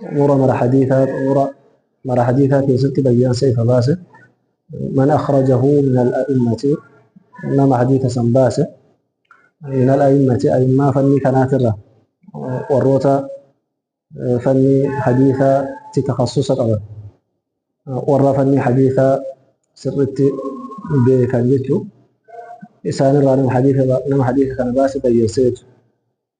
xumura mara hadiisaa xumura mara hadiisaa keessatti bayyansa ifa baase man akhrajahu min al-a'immati nama hadiisa san baase min al-a'immati a'immaa fannii kanaatirra warroota fannii hadiisaa itti takhassusa qaban warra fannii hadiisaa sirritti beekan jechuu isaanirraa nama hadiisa nama hadiisa kana baase bayyansa jechuudha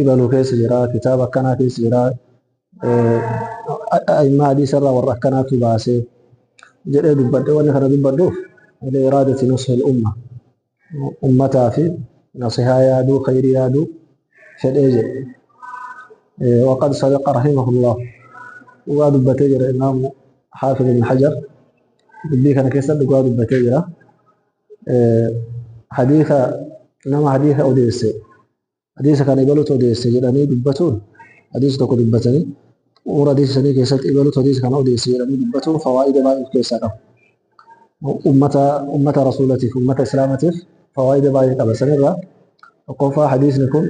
ibalu keessa jira kitaaba akkanaa keessa jira a'immaa hadiisa irraa warra akkanaatu baase jedhee dubbadhe wanni kana dubbadhuuf ilaa iraadati nushil umma ummataa fi nasihaa yaaduu khayrii yaaduu fedhee jedhe waqad sadaqa rahimahullah dhugaa dubbatee jira imaamu haafid ibn hajar dubbii kana keessa dhugaa dubbatee jira hadiisa nama hadiisa odeesse Hadiisa kana ibalutu odeesse jedhanii dubbatuun hadiisa tokko dubbatanii xumura hadiisa sanii keessatti ibalutu hadiisa kana odeesse jedhanii dubbatuun fawaa'ida baay'ee of keessaa qaba. Ummata ummata rasuulatiif ummata islaamatiif fawaa'ida baay'ee qaba. Sanirraa tokkoffaa hadiisni kun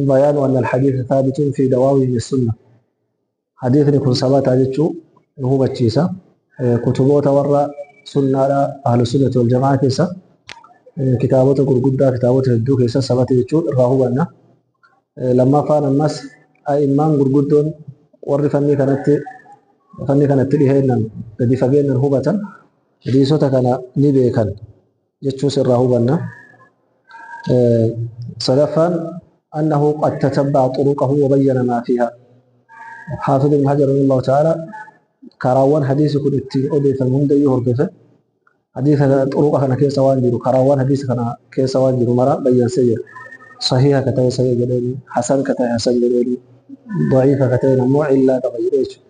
bayaanu anna al-hadiisa thaabitun fi dawaawihi sunnah Hadiisni kun sabataa jechuu nu hubachiisa. Kutuboota warra sunnaadha ahlusunnati wal jamaa keessa kitaabota gurguddaa kitaabota hedduu keessa sabata jechuu irraa hubanna. Lammaffaan ammas a'immaan gurguddoon warri fannii kanatti fannii kanatti dhiheennan gadi fageennan hubatan hadiisota kana ni beekan. jechuus irraa hubanna. Sadaffaan annahu qad tatabba'a xuruqahu wa bayyana maa fiiha. Haafid ibn Hajar rahimahullahu ta'ala karaawwan hadiisi kun itti odeeffamu hundayyuu hordofe. Hadiisa xuruqa kana keessa waan jiru karaawwan hadiisa kana keessa waan jiru mara bayyansee jira. Sahiha ka ta'e sahih jedheeni, hasan ka ta'e hasan jedheeni, da'iifa ka ta'een ammoo illaa qaba jedhee jechuudha.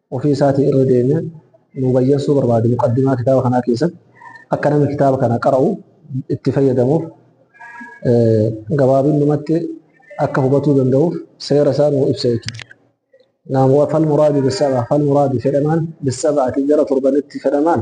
ofii isaatii irra deemee nu bayyansuu barbaade muqaddimaa kitaaba kanaa keessatti akka namni kitaaba kana qara'u itti fayyadamuuf gabaabinnumatti akka hubatuu danda'uuf seera isaa nuu ibsa jechuudha. Naam fal muraadu bisaba fal muraadu fedhamaan bisaba'ati gara torbanitti fedhamaan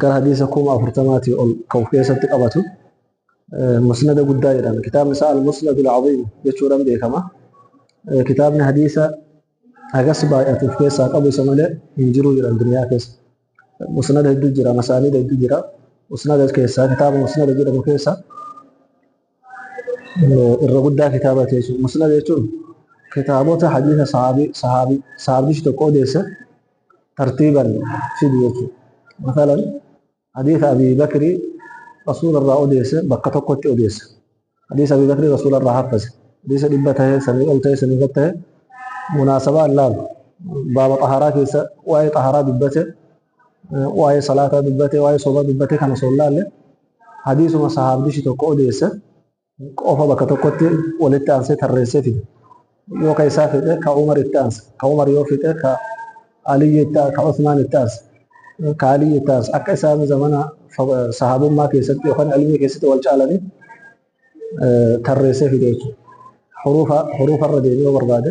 gara hadiisa kuma afurtamaatii ol ka of keessatti qabatu musnada guddaa jedhama. Kitaabni isaa al-musnadul aziim jechuudhaan beekama. Kitaabni hadiisa hagas baay'atu of keessaa qabu isa malee hin jiru jedhan duniyaa keessa. Musnada hedduu jira, masaanida hedduu jira. Musnada keessaa kitaaba musnada jedhamu keessaa irra guddaa kitaaba teessu musnad jechuun kitaabota hadiisa sahaabii sahaabii sahaabichi tokko odeesse tartiiban fidu jechuudha. Masalan hadiisa Abii Bakrii rasuula irraa odeesse bakka tokkotti odeesse. Hadiisa Abii Bakrii rasuula irraa haffase. Hadiisa dhibba ta'e sanii ol ta'e sanii gad ta'e munaasabaa hin laalu. Baaba xahaaraa keessa waa'ee xahaaraa dubbate waa'ee salaataa dubbate, waa'ee sobaa dubbate kana osoo hin laalle hadiisuma sahaabdichi tokko odeesse qofa bakka tokkotti walitti aansee tarreessee fide. Yoo ka isaa fixe ka Umar itti aanse, ka Umar yoo fixe ka Aliyyi itti aanse, ka Usmaan itti aanse, ka Aliyyi itti aanse akka isaan zamana sahaabummaa keessatti yookaan ilmii keessatti wal caalanii tarreessee fide jechuudha. Huruufa irra deemee yoo barbaade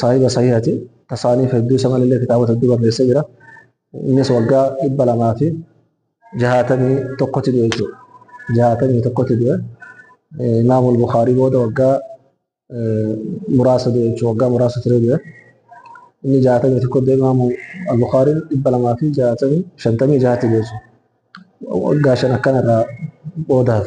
saahiba sahiihati tasaaniif hedduu isa malee kitaabota hedduu barreessee jira innis waggaa dhibba lamaa fi jahaatamii tokkotti du'e jechuudha jahaatamii tokkotti du'e imaamul bukaarii booda waggaa muraasa du'e jechuudha waggaa muraasa ture du'e inni jahaatamii tokko du'e imaamu al-bukaariin dhibba lamaa fi jahaatamii shantamii jahatti du'e jechuudha waggaa shan akkanarraa boodaaf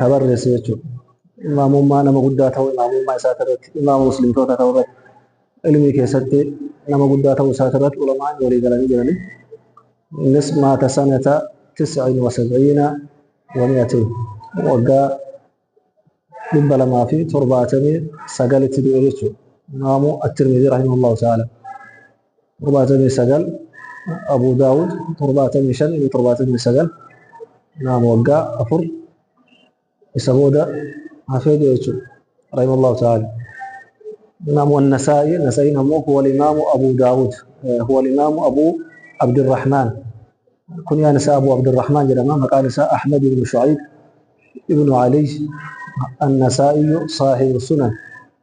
ka barreesse jechuudha. Imaamummaa nama guddaa ta'uu imaamummaa isaa irratti imaama muslimtoota ta'uu irratti ilmii keessatti nama guddaa ta'uu isaa irratti ulamaan walii galanii jiranii. Innis maata sanata tis'in wa sab'iina wa mi'atiin waggaa dhibba lamaa fi torbaatamii sagalitti du'e jechuudha. Imaamu At-Tirmidhii rahimahullahu ta'ala. torbaatamii sagal Abuu Daawud torbaatamii shan inni torbaatamii sagal naam waggaa afur isa booda hafee jira jechuudha rahimallahu ta'ala naam wan nasaa'i nasa'iin ammoo huwa imaamu Abuu Daawud huwa imaamu Abuu Abdirrahmaan kunyaan isaa Abuu Abdirrahmaan jedhama maqaan isaa Ahmad ibn Shu'ayb ibn Ali an-Nasaa'i saahibu sunan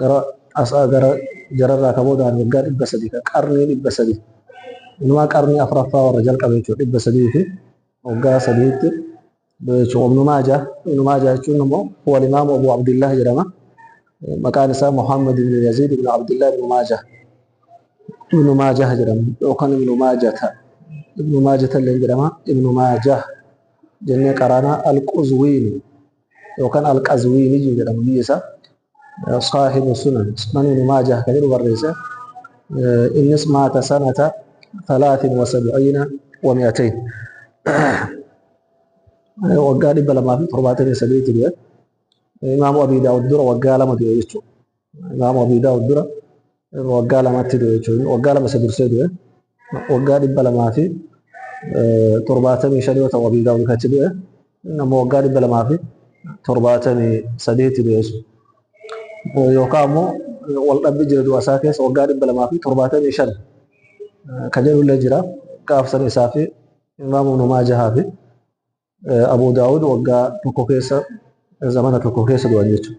Gara asaa gara jararraa ka boodaan waggaa dhibba sadii ka qarnii dhibba sadii inumaa qarnii afraffaa warra jalqabe jechuudha dhibba sadii fi waggaa sadiitti du'e jechuudha ibnu maajaa ibnu maajaa jechuun immoo huwa imaamu abu abdillah jedhama maqaan isaa muhammad ibnu yaziid ibnu abdillah ibnu maajaa ibnu maajaa jedhama yookaan ibnu maajata ibnu maajata illee jedhama ibnu maajaa jennee qaraanaa alquzwiini yookaan Al-Qazwiiniyyu jedhamu biyya isaa Saahibu Sunan Sunan Ibnu Maajah kan jedhu barreesse innis maata sanata 73 wa 200 waggaa 278 du'e Imaamu Abii Daawud dura waggaa lama du'e jechuudha. Imaamu Abii Daawud dura waggaa lamatti du'e jechuudha. Waggaa lama isa dursee du'e. Waggaa dhibba lamaa fi torbaatamii shan yoo ta'u Abii Daawud katti du'e. Inni ammoo waggaa dhibba lamaa fi torbaatamii sadeetti du'e jechuudha. Yookaan ammoo wal dhabbi jira du'a isaa keessa waggaa dhibba lamaa fi torbaatamii shan ka jedhullee jira. Gaafsan isaa fi Imaamu Ibnu Maajahaa fi Abuu Daawud waggaa tokko keessa zamana tokko keessa du'an jechuudha.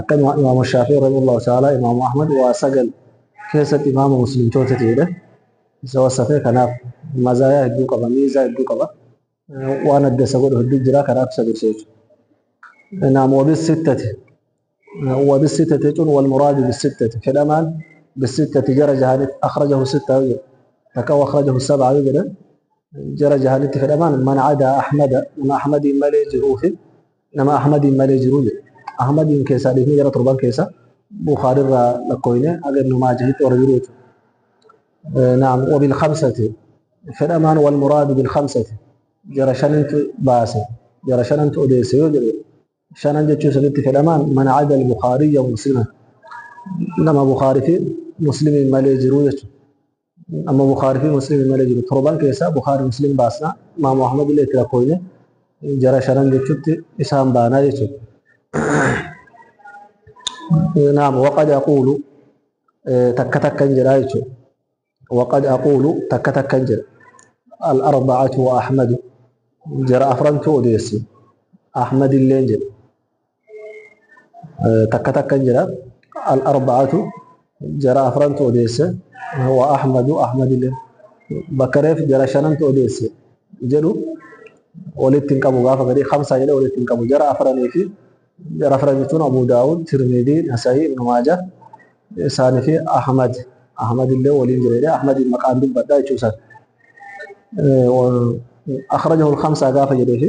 akka imaamu shaafii rahimahullahu ta'ala imaamu ahmad waa sagal keessatti imaama muslimtoota ta'edha isa wasafee kanaaf mazaayaa hedduu qaba miizaa hedduu qaba waan adda isa godhu hedduu jira kanaaf isa dursa jechuudha naam wabis sittati wabis sittati jechuun wal muraadu bis sittati fedhamaan bis sittati jara jahanit akhrajahu sitta yoo jedhu takka akhrajahu sab'a yoo jedhan jara jahanitti fedhamaan man adaa ahmada nama ahmadiin malee jiruufi nama Ahmadiin malee jiru jedhe. Ahmadiin keessaa dhiifnee gara torban keessa Bukhaarirraa lakkooyne haga Ibnu Maajahitti warra jiru jechuudha. Naam wabil khamsati fedhamaan wal muraadu bil khamsati jara shanintu baase jara shanantu odeesse yoo jedhe shanan jechuun sanitti fedhamaan man ada al Bukhaariyya musliman nama Bukhaarii fi muslimiin malee jiru jechuudha. amma Bukhaarii fi Muslim malee jiru torban keessaa Bukhaarii Muslim baasna Imaamu Ahmad illee itti lakkoofne jara shanan jechuutti isaan baanaa jechuudha. Naam waqad aquulu takka takkan jedha jechuudha. Waqad aquulu takka takkan jedha. Al-arba'atu wa Ahmadu jara afrantu odeessi. Ahmad illee jedha. takka takkan jira al-arba'atu jara afrantu odeesse wa ahmadu ahmadile bakka reef jara shanantu odeesse jedhu walitti hin qabu gaafa gadii kamsaa jedhe walitti hin qabu jara afranii fi jara afran jechuun abu daawud tirmidii nasayii ibnu maaja isaanii fi ahmad ahmad illee waliin jira jedhe ahmad maqaan dubbadha jechuu isaati akhrajahu al-khamsaa gaafa jedhee fi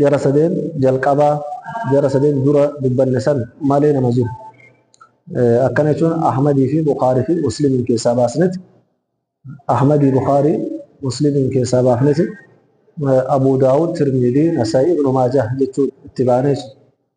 Jara sadeen jalqaba jara sadeen dura dubbanne san malee nama jiru. Akkana jechuun Ahmadii fi Bukhaarii fi Muslimiin keessaa baasneti. Ahmadii Bukhaarii Muslimiin keessaa baafneti. Abuu Daawud, Tirmidii, Nasaa'ii, Ibnu Maajah jechuun itti baanee jechuudha.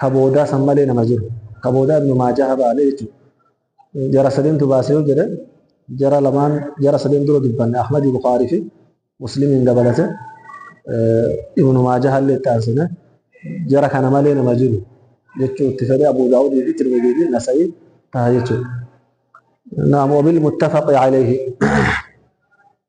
ka boodaa san malee nama jiru ka boodaa ibnu maajaha baane jechuudha jara sadeentu baase yoo jedhe jara lamaan jara sadeen dura dubbanne ahmadi bukaarii fi muslimiin dabalate ibnu maajaha illee itti aansine jara kana malee nama jiru jechuu itti fedhe abu daawudii fi tirmidii fi nasa'ii taha jechuudha naam wabil muttafaqi alayhi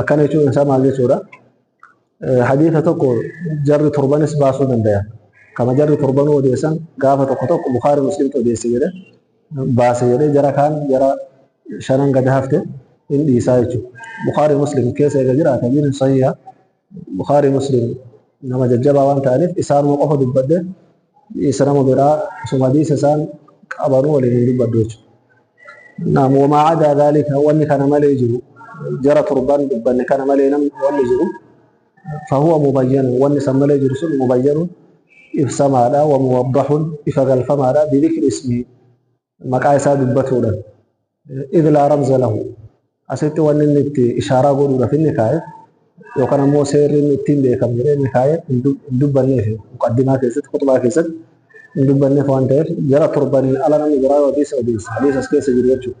akkana jechuun isaa maal jechuudha? Hadiisa tokko jarri torbanis baasuu danda'a. Kama jarri torbanuu odeessan gaafa tokko tokko Bukhaarii Muslimtu odeesse jedhe baase jedhe jara kaan jara shanan gad hafte hin dhiisaa jechuudha. Bukhaarii Muslim keessa eega jiraata hadiisni sahiha Bukhaarii Muslim nama jajjabaa waan ta'aniif isaanuma qofa dubbadhe isa nama biraa osuma hadiisa isaan qabanuu waliin hin dubbadhu jechuudha. Naam wamaa adaa dhaalika wanni kana malee jiru jara torban dubbanne kana malee nam wanni jiru fahuwa mubayyanu wanni san malee jiru sun mubayyanu ibsamaadha wa muwaddaxun ifa galfamaadha bidikri ismii maqaa isaa dubbatuudha. Idh laa ramza lahu. Asitti wanni inni itti ishaaraa godhuudhaaf inni kaa'e yookaan ammoo seerri inni ittiin beekamu jedhee inni kaa'e hin dubbanneef muqaddimaa keessatti kutubaa keessatti hin dubbanneef waan ta'eef jara torbaniin ala namni biraa yoo hadiisa odeessa hadiisa as keessa jiru jechuudha.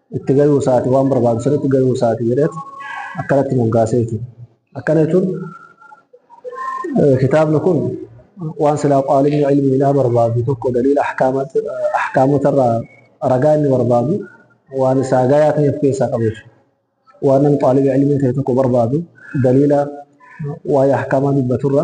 itti gayuu isaati waan barbaadu sirriitti gayuu isaati jedheet akkanatti moggaasee jechuudha. Akkana jechuun kitaabni kun waan silaa qaalimni ilmiidhaa barbaadu tokko daliila ahkaamotarraa ragaa inni barbaadu waan isaa gayaa ta'e of keessaa qabu jechuudha. Waan namni qaalibi ilmii ta'e tokko barbaadu daliila waa'ee ahkaamaa dubbaturra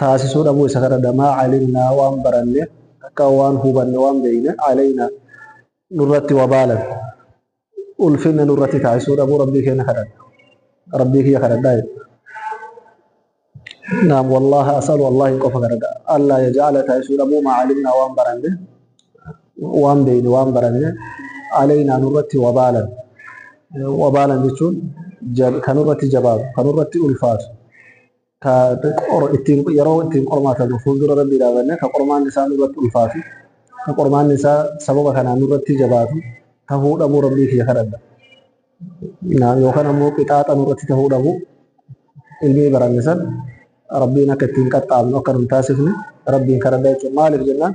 taasisuu dhabuu isa kadhadha maa calimnaa waan baranne takkaa waan hubanne waan beeyne calaynaa nurratti wabaalan ulfinna nurratti taasisuu dhabuu rabbii keenya kadhadha rabbii kiyya kadhadhaa jedhe naam wallaaha asalu wallaahi qofa kadhadha allaa yajacala taasisuu dhabuu maa calimnaa waan baranne waan beeyne waan baranne calaynaa nurratti wabaalan wabaalan jechuun kanurratti jabaatu kanurratti ulfaatu ka qor- ittiin yeroo ittiin qormaatamu fuuldura rabbii dhaabannee ka qormaanni isaa nurratti ulfaatu ka qormaanni isaa sababa kanaan nurratti jabaatu tahuu dhabuu rabbii kiyya kadhadha Naam, yookaan ammoo qixaaxa nurratti tahuu dhabuu ilmii baranne san rabbiin akka ittiin qaxxaamnu akka nun taasifne rabbiin kadhadha jechuudha maaliif jennaan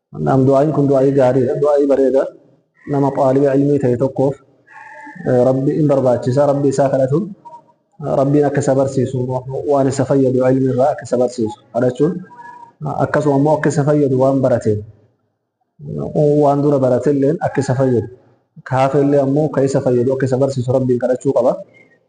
Naam du'aa'iin kun du'aa'ii gaariidha, du'aa'ii bareeda. Nama xaaliba ilmii ta'e tokkoof rabbi in barbaachisa, rabbi isaa kadhatuun rabbiin akka isa barsiisu waan isa fayyadu ilmi irraa akka isa barsiisu kadhachuun akkasuma immoo akka isa fayyadu waan barateen waan dura baratelleen akka isa fayyadu ka hafellee ammoo ka isa fayyadu akka isa barsiisu rabbiin kadhachuu qaba.